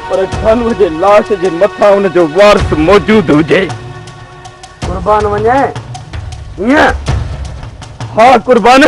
پر جانور جي لاش جي مٿان ان جو وارث موجود هجي قربان وڃي ائين ها قربان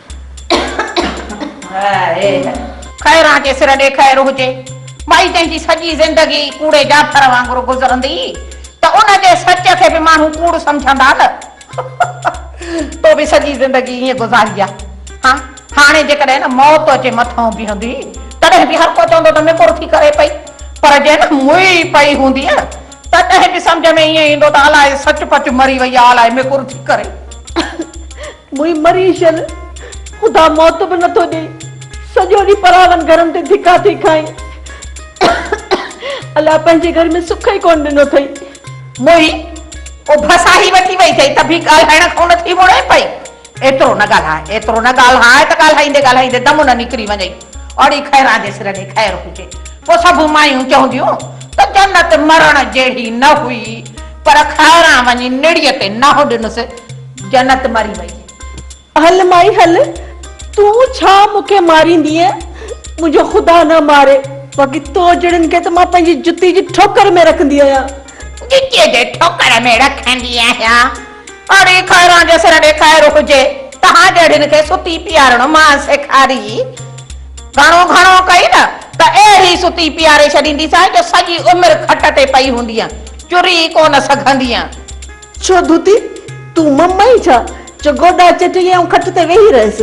خير آ جي سر ڏي خير هجي. ٻائي جنهن جي سڄي زندگي ڪوڙي جعفر وانگر گذرندي ته ان جي سچ کي به ماڻهو ڪوڙ سمجهندا نه. تو به سڄي زندگي ائين گذاري آ. ها هاڻي جيڪڏهن موت اچي مٿئون بيهندي تڏهن به هر ڪو چوندو ته مڪر ٿي ڪري پئي. پر جي موئي پئي هونديء تڏهن به سمجهه ۾ ائين ايندو ته الائي سچ پچ مري وئي آ الائي مڪر ٿي ڪري. موئي مري شل خدا موت به نٿو ڏئي سڄو ڏينهن پراون گهرن تي ڌڪا ٿي کائين الله پنهنجي گهر ۾ سک ئي ڪونه ڏنو ٿئي. موئي اڀ ساهي وٺي وئي ٿئي ته به ڳالهائڻ کان نه ٿي مڙئي پئي ايترو نه ڳالهاء ايترو نه ڳالهاء ته ڳالهائيندي ڳالهائيندي دم نه نڪري وڃئي اوڙي خيران جي سر ڏي خير هجي پوء سڀ مايون چونديون ته جنت مرڻ جهڙي نه هئي پر خيران وڃي نڙيء تي نهو ڏنس جنت مري وئي. هل مائي هل، تون ڇا مون کي ماريندينء؟ منهنجو خدا نه ماري، باقي تو جهڙن کي ته مان پنهنجي جتي جي ٺوڪر ۾ رکندي آهيان. جتيء جي ٺوڪر ۾ رکندي آهيان؟ اڙي خيران جو سر ڏي خير هجي، توهان جهڙين کي ستي پيارڻ مان سيکاري. گهڻو گهڻو ڪئي نه ته اهڙي ستي پياري ڇڏينديسانء جو سڄي عمر کٽ تي پئي هوندينء، چري ئي ڪونه سگهندينء. ڇو ڌوتي، تون مم آهين ڇا، جو گوڏا چٽين ۽ کٽ تي ويهي رهيس.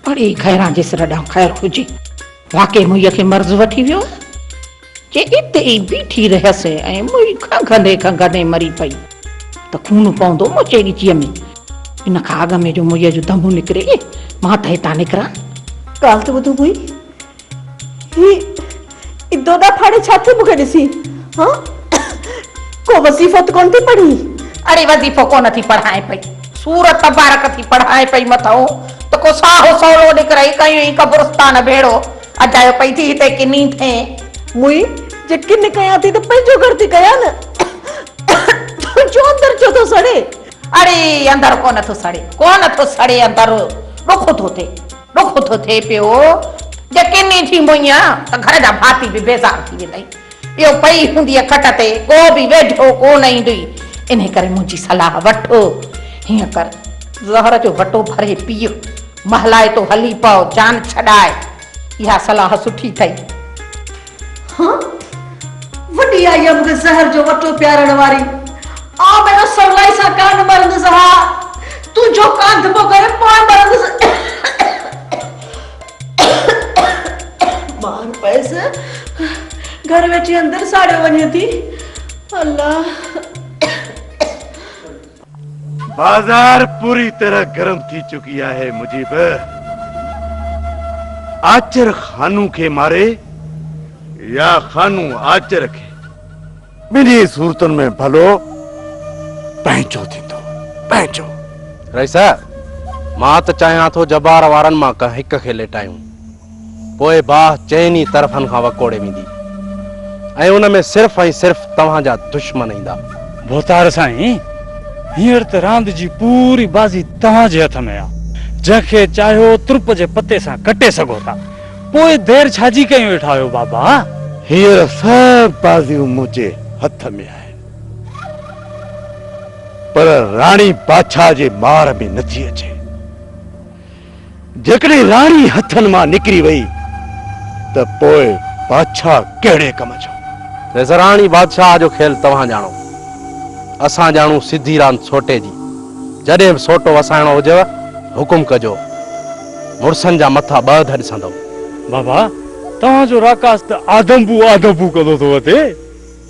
پڙهي خيران جي سر ڏانهن خير هجي. واقعي موئيء کي مرض وٺي ويو هو، جي اتي ئي بيٺي رهيس ۽ موئي کنگهندي کنگهندي مري پئي، ته خون پوندو مچي ڳچيء ۾. ان کان اڳ ۾ جو موئيء جو دم نڪري، مان ته هتان نڪران. ڳالهه ته ٻڌ موئي، هي دودا ڦاڙي ڇا ٿي مون کي ڏسي هان ڪو وظيفو ته ڪونه ٿي پڙهين؟ اڙي وظيفو ڪونه ٿي پڙهائين پئي سورت تبارڪ ٿي پڙهائين پئي مٿئون ته ڪو ساهو سولو نڪرئي ڪيون ئي قبرستان ڀيڙو اجايو پئي ٿي هتي ڪني ٿئين. موئي جي ڪني ڪيان ٿي ته پنهنجو گهر ٿي ڪيان نه تنهنجو اندر ڇو ٿو سڙي؟ اڙي اندر ڪونه ٿو سڙي ڪونه ٿو سڙي اندر ڏک ٿو ٿئي. ڏک ٿو ٿئي پيو جي ڪن ئي ٿي موئينء ته گهر جا ڀاتي به بيزار ٿي ويندئي. ٻيو پئي هونديء کٽ تي ڪو به ويجهو ڪو نه ايندئي. انهي ڪري منهنجي صلاح وٺ. هيئن ڪر زهر جو وٽو ڀري پيء. مهلائتو هلي پء جان ڇڏائي. اها صلاح سٺي اٿئي. ها وڏي آئي آ مون کي زهر جو وٽو پيارڻ واري آء ڀيڻو سولائي سان ڪانه مرندس ها تون جو ڪانڌپو ڪرين پوء مرندس مار پئس گهر ويٺي اندر ساڙيو وڃي ٿي الله بازار پوري طرح گرم ٿي چڪي آهي مجيب آچر خانو کي ماري يا خانو آچر کي ٻنهي صورتن ۾ ڀلو پنهنجو ٿيندو پنهنجو رئيس مان ته چاهيان ٿو جبار وارن مان ڪنهن هڪ کي ليٽايون پوء باهه چئن ئي طرفن کان وڪوڙي ويندي ۽ ان ۾ صرف ۽ صرف توهان جا دشمن ايندا. ڀوتار سائين، هينئر ته راند جي پوري بازي توهان جي هٿ ۾ آ، جنهن کي چاهيو ترپ جي پتي سان ڪٽي سگهو ٿا، پوء دير ڇا جي ڪيون ويٺا آهيو بابا؟ هينئر سڀ بازيون منهنجي هٿ ۾ آهن، پر راڻي بادشاهه جي مار ۾ نٿي اچي. جيڪڏهن راڻي هٿن مان نڪري وئي ته پوء بادشاهه ڪهڙي ڪم جو؟ ريزراڻي بادشاهه جو کيل توهان ڄاڻو. اسان ڄاڻون سڌي راند سوٽي جي. جڏهن به سوٽو وسائڻو هجيو حڪم ڪجو. مڙسن جا مٿا ٻه ڌه ڏسندم. بابا توهان جو راڪاس ته آدمبو آدمبو ڪندو ٿو وتي.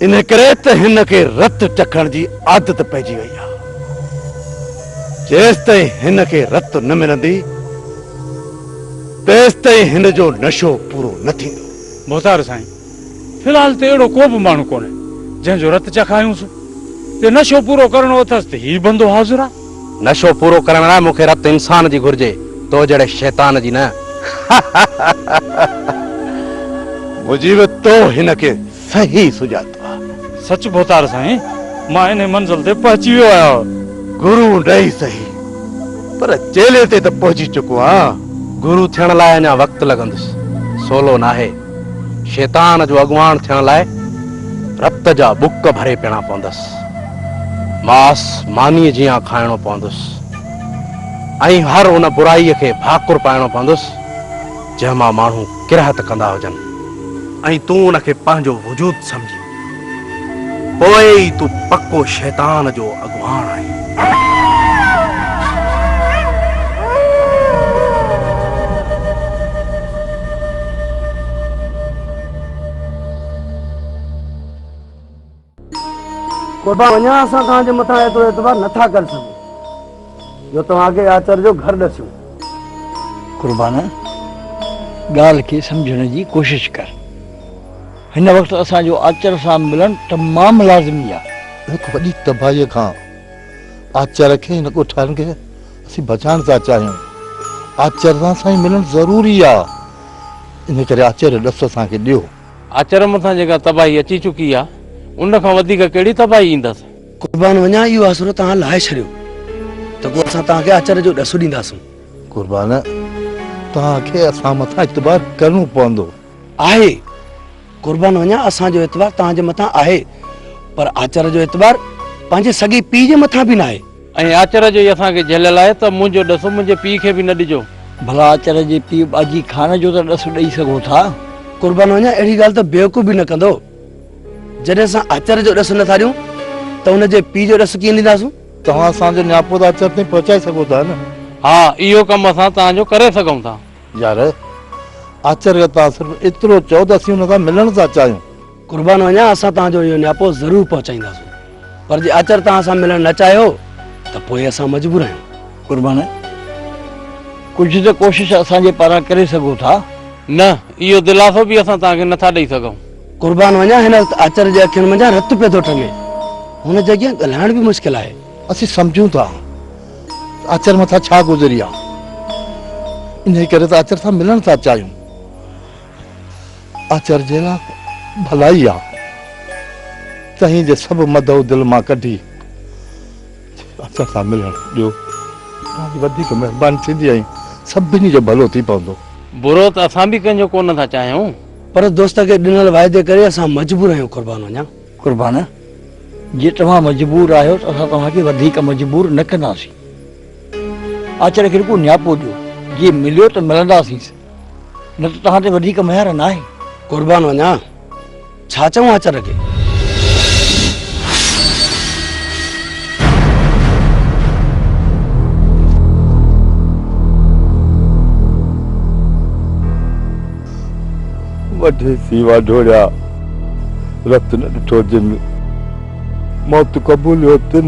انهيء ڪري ته هن کي رت چکڻ جي عادت پئجي وئي آهي. جيستائين هن کي رت نه ملندي، تيستائين هن جو نشو پورو نه ٿيندو. محتار سائين، في الحال ته اهڙو ڪو به ماڻهو ڪونهي، جنهن جو رت چکايونس. جي نشو پورو ڪرڻو اٿس ته هي بندو حاضر آهي. نشو پورو ڪرڻ لاء مون کي رت انسان جي گهرجي، تو جهڙي شيطان جي نه. مجيب، تو هن کي صحيح سڃاتو آ. سچ ڀوتار سائين مان انهي منزل تي پهچي ويو آهيان. گرو نه ئي سهي پر چيلي تي ته پهچي چڪو آهيان. گرو ٿيڻ لاء اڃا وقت لڳندس سولو ناهي. شيطان جو اڳواڻ ٿيڻ لاء رت جا ٻڪ ڀري پيڻا پوندس. ماس مانيء جيان کائڻو پوندس ۽ هر ان برائي کي ڀاڪر پائڻو پوندس. جنهن مان ماڻهو ڪراهت ڪندا هجن ۽ تون ان کي پنهنجو وجود سمجهين، پوء ئي تون پڪو شيطان جو اڳواڻ آهين. قربان وڃان اسان توهان جي مٿان ايترو اعتبار نه ٿا ڪري سگهون جو توهان کي آچر جو گهر ڏسيون. قربان ڳالهه کي سمجهڻ جي ڪوشش ڪر. هن وقت اسان جو آچر سان ملڻ تمام لازمي آهي. هڪ وڏي تباهيء کان آچر کي هن ڳوٺارن کي اسين بچائڻ ٿا چاهيون. آچر سان سائين ملڻ ضروري آهي. ان ڪري آچر جو ڏس اسان کي ڏيو. آچر مٿان جيڪا تباهي اچي چڪي آ، ان کان وڌيڪ ڪهڙي تباهي ايندس؟ قربان وڃان اهو آسرو توهان لاهي ڇڏيو ته پوء اسان توهان کي آچر جو ڏس ڏينداسون. قربان توهان کي اسان مٿان اعتبار ڪرڻو پوندو. آهي. قربان وڃان اسان جو اعتبار توهان جي مٿان آهي، پر آچر جو اعتبار پنهنجي سڳي پيء جي مٿان به ناهي. ائين آچر جو ئي اسان کي جهليل آهي ته منهنجو ڏس منهنجي پيء کي به نه ڏجو. ڀلا آچر جي پيء ٻاجهي خان جو ته ڏس ڏئي سگهو ٿا. قربان وڃان اهڙي ڳالهه ته بيوقوف به نه ڪندو. جڏهن اسان آچر جو ڏس نه ٿا ڏيون ته ان جي پيء جو ڏس ڪيئن ڏينداسون؟ توهان اسان جو نياپو ته آچر تائين پهچائي سگهو ٿا نه؟ ها اهو ڪم اسان توهان جو ڪري سگهون ٿا. يار آچر کي توهان صرف ايترو چئو ته اسين ان سان ملڻ ٿا چاهيون. قربان وڃان اسان توهان جو اهو نياپو ضرور پهچائينداسون پر جي آچر توهان سان ملڻ نه چاهيو ته پوء اسان مجبور آهيون. قربان ڪجهه ته ڪوشش اسان جي پاران ڪري سگهو ٿا. نه اهو دلاسو به اسان توهان کي نه ٿا ڏئي سگهون. قربان وڃان هن وقت آچر جي اکين منجهان رت پيو ٿو ٽنگي هن جي اڳيان ڳالهائڻ به مشڪل آهي. اسين سمجهون ٿا ته آچر مٿان ڇا گذري آهي انهي ڪري ته آچر سان ملڻ ٿا چاهيون. آچر جي لا ڀلائي آ تنهن جي سڀ مدعو دل مان ڪڍي آچر سان ملڻ ڏيو تنهنجي وڌيڪ مهرباني ٿيندي ۽ سڀني جو ڀلو ٿي پوندو. برو ته اسان به ڪنهن جو ڪونه ٿا چاهيون. پر دوست کي ڏنل واعدي ڪري اسان مجبور آهيون قربان وڃان. قربان جي توهان مجبور آهيو ته اسان توهان کي وڌيڪ مجبور نه ڪنداسين. آچر کي رڳو نياپو ڏيو جي مليو ته ملنداسينس. نه ته توهان تي وڌيڪ مهر ناهي. قربان وڃان، ڇا چئون آچر کي؟ وڍي سيوا ڍوڙيا، رت نه ڏٺو جن، موت قبوليو تن.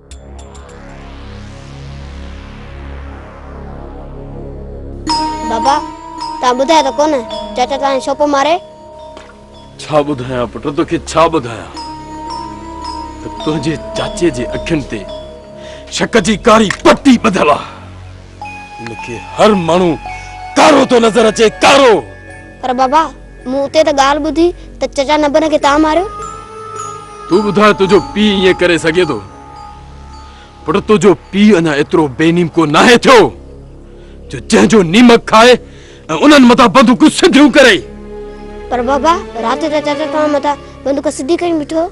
بابا توهان ٻڌايو ته ڪونه چاچا توهان کي ڇو پيو ماري؟ ڇا ٻڌايان پٽ توکي ڇا ٻڌايان ته تنهنجي چاچي جي اکين تي شڪ جي ڪاري پٽي ٻڌل آ ان کي هر ماڻهو ڪارو ٿو نظر اچي ڪارو پر بابا مون اتي ته ڳالهه ٻڌي ته چچا نبن کي تان ماريو. تون ٻڌاء تنهنجو پيء ائين ڪري سگهي ٿو؟ پٽ تنهنجو پيء اڃا ايترو بي نيمڪو ناهي ٿيو جو جنهن جو نيمڪ کائي ۽ انهن مٿان بندوقون سڌيون ڪري. پر بابا رات جو ته چچا توهان مٿان بندوق سڌي ڪري بيٺو هو.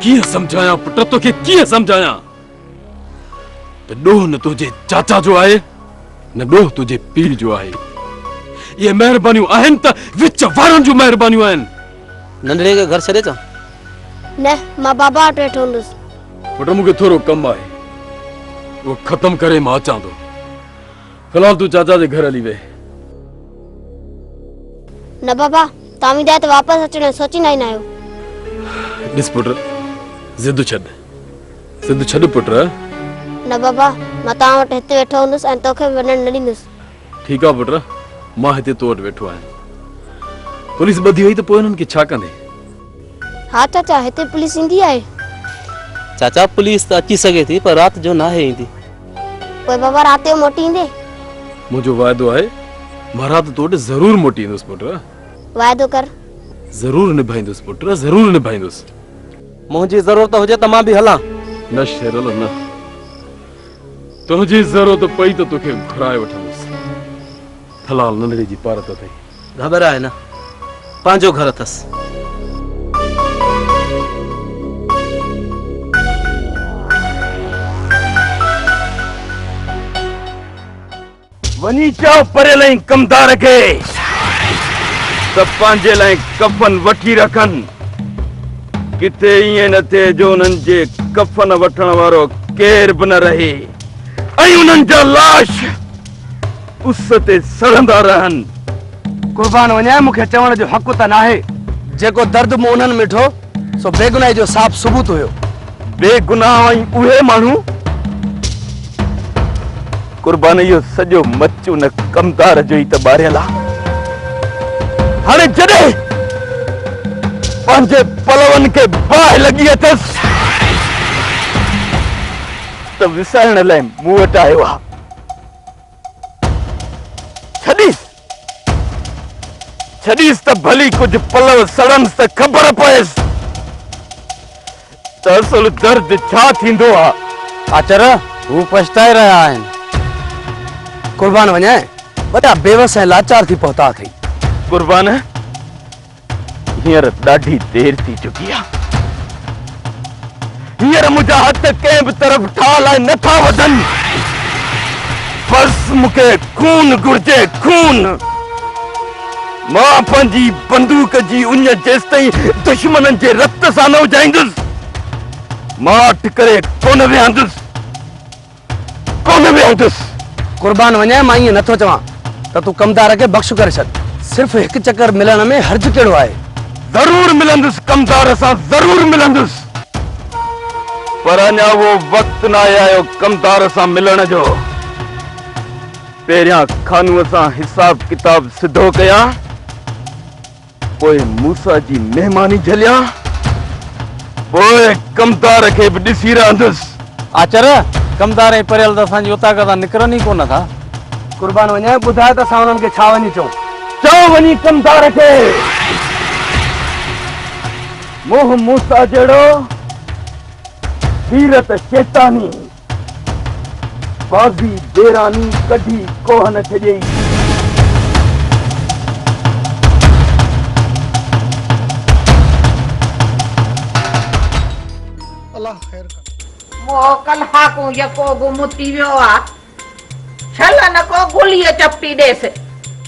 ڪيئن سمجهايان پٽ توکي ڪيئن سمجهايان. ته ڏوهه نه تنهنجي چاچا جو آهي نه ڏوهه تنهنجي پيء جو آهي اهي مهربانيون آهن ته وچ وارن جون مهربانيون آهن ننڍڙي کي گهر ڇڏي چان نه مان بابا وٽ ويٺو هوندس پٽ مون کي ٿورو ڪم آهي اهو ختم ڪري مان اچان ٿو في الحال تون چاچا جي گهر هلي ويهه نه بابا توهان ويندا آهيو ته واپس اچڻ جو سوچيندا ئي نه آهيو ڏس پٽ ضد ڇڏ سنڌ ڇڏ پٽ. نه بابا، مان توهان وٽ هت ويٺو هوندس ۽ توکي به وڃڻ نه ڏيندس. ٺيڪ آ پٽ، مان هتي تو وٽ ويٺو آهيان. پوليس ٻڌي وئي ته پوء هنن کي ڇا ڪندين؟ ها چاچا، هتي پوليس ايندي آهي. چاچا، پوليس ته اچي سگهي ٿي پر رات جو ناهي ايندي. پوء بابا رات جو موٽي ايندي؟ منهنجو واعدو آهي، مان رات تو وٽ ضرور موٽي ايندس پٽ. واعدو ڪر. ضرور نڀائيندس پٽ، ضرور نڀائيندس. منهنجي ضرورت هجي ته مان به هلان. نه شيرل نه. تنهنجي ضرورت پئي ته توکي گهرائي وٺندس. ٿلال ننڍڙي جي پارت اٿئي. گهٻرا آهي نه. پنهنجو گهر اٿس. وڃي چئو پريل ۽ ڪمدار کي ته پنهنجي لاء ڪفن وٺي رکن. ڪٿي ائين نه ٿئي جو انهن جي ڪفن وٺڻ وارو ڪير به نه رهي ۽ انهن جا لاش اس تي سڙندا رهن. قربان وڃان مون کي چوڻ جو حق ته ناهي. جيڪو درد مون انهن ۾ ڏٺو سو بيگناهي جو صاف ثبوت هيو. بيگناهه ۽ اهي ماڻهو. قربان اهو سڄو مچ ان ڪمدار جو ئي ته ٻاريل آ هاڻي جڏهن پنهنجي پلون کي باهه لڳي اٿس ته وسائڻ لاء مون وٽ آيو آ ڇڏيس ڇڏيس ته ڀلي ڪجهه پلو سڙنس ته خبر پئيس ته اصل درد ڇا ٿيندو آ. آچر هو پڇتائي رهيا آهن. قربان وڃان وڏا بيوس ۽ لاچار ٿي پهتا اٿئي. قربان هينئر ڏاڍي دير ٿي چڪي آ. هينئر منهنجا هٿ ڪنهن به طرف ٺاهه لاء نه ٿا وڌن. بس مون کي خون گهرجي، خون. مان پنهنجي بندوق جي اڃ جيستائين دشمنن جي رت سان نه اجهائيندس، مان اٺ ڪري ڪونه ويهندس. ڪونه ويهندس. قربان وڃاء مان ائين نٿو چوان ته تون ڪمدار کي بخش ڪري ڇڏ. صرف هڪ چڪر ملڻ ۾ حرج ڪهڙو آهي. ضرور ملندس ڪمدار سان ضرور ملندس. پر اڃا اهو وقت ناهي آيو ڪمدار سان ملڻ جو. پهريان خانوء سان حساب ڪتاب سڌو ڪيان. پوء موسيٰ جي مهماني جهليا، پوء ڪمدار کي به ڏسي رهندس. آچر، ڪمدار ۽ پريل ته اسان جي اوطاق تان نڪرن ئي ڪونه ٿا. قربان وڃان، ٻڌاء ته اسان انهن کي ڇا وڃي چئون؟ چئو وڃي ڪمدار کي، منهن موسيٰ جهڙو، سيرت شيطاني. بازي بيراني ڪڍي ڪوهه نه ڇڄئي. مهو ڪل هاڪون يڪو گم ٿي ويو آ. ڇل نه ڪو گليء چپٽي ڏيس.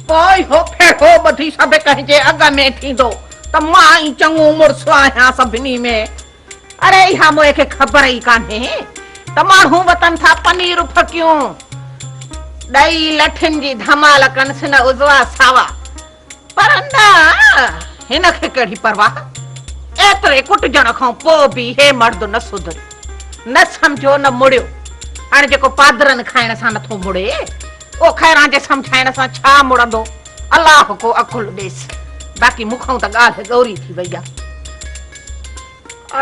پوء اهو ڦيرو ٻڌي سڀڪنهن جي اڳ ۾ ٿيندو ته مان ئي چڱو مڙس آهيان سڀني ۾. اري اها موئي کي خبر ئي ڪانهي ته ماڻهو وتن ٿا پنير ڦڪيون ڏئي لٺين جي ڌمال ڪن سن عضوا ساوا پر نه هن کي ڪهڙي پرواهه ايتري ڪٽجڻ کان پوء به هي مرد نه سڌريو نه سمجهيو نه مڙيو هاڻي جيڪو پادرن کائڻ سان نٿو مڙي اهو خيران جي سمجهائڻ سان ڇا مڙندو. الله ڪو عقل ڏيس. باقي مون کان ته ڳالهه ڳوري ٿي وئي آهي.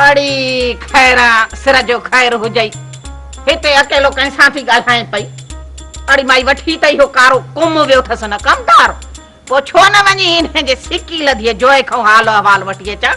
اڙي خيرا سر جو خير هجئي. هتي اڪيلو ڪنهن سان ٿي ڳالهائين پئي. اڙي مائي وٺي ته اهو ڪارو ڪم ويو اٿس نه ڪمدار. پوء ڇو نه وڃي انهن جي سڪي لڌيء جوئي کان حال احوال وٺي اچان.